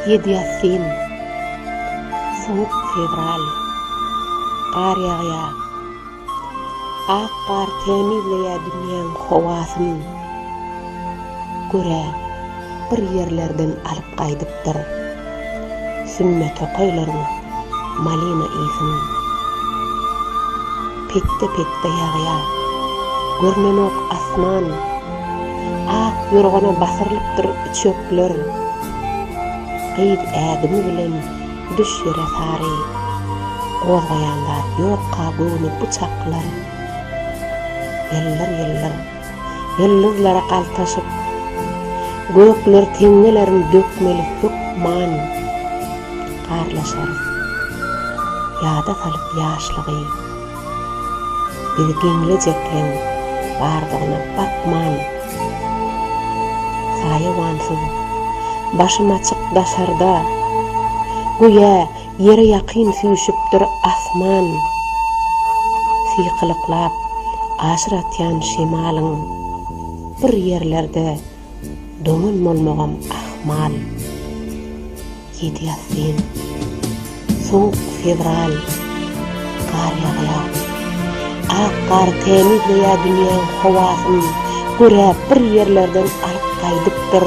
Ýedi ýassyn, sowuk fewral, gar ýagýar. Ak gar tämizleýär dünýäň howasyn. Görä, bir ýerlerden alyp gaýdyp, Ýaşapdyr sümme tokaýlaryň malina ysyn. Petde-petde ýagýa, görnenok asman. Ak ýorgana basyrylypdyr çöpler. Gyz ädimi bilen düş ýere sary. Gozgaýan zat ýokka göwni bu çaklar. Ýyldyr-ýyldyr. Ýyldyzlara galtaşyp, gökler teňňelerin dökmeli hökman garlaşarys. Ýada salyp ýaşlygy, bizi geňlejekleň bardygyna bakman, saýawansyz, başym açyk daşarda, göýä, Ýere ýakyn süýşüpdir asman. Sykylyklap aşyr atýan şemalyň. Bir ýerlerde doňan bolmagam ahmal. Ýedi ýassyn. Sowuk fewral. Gar ýagýar. Ak gar tämizleýär dünýäň howasyn. Göräp bir ýerlerden alyp gaýdypdyr.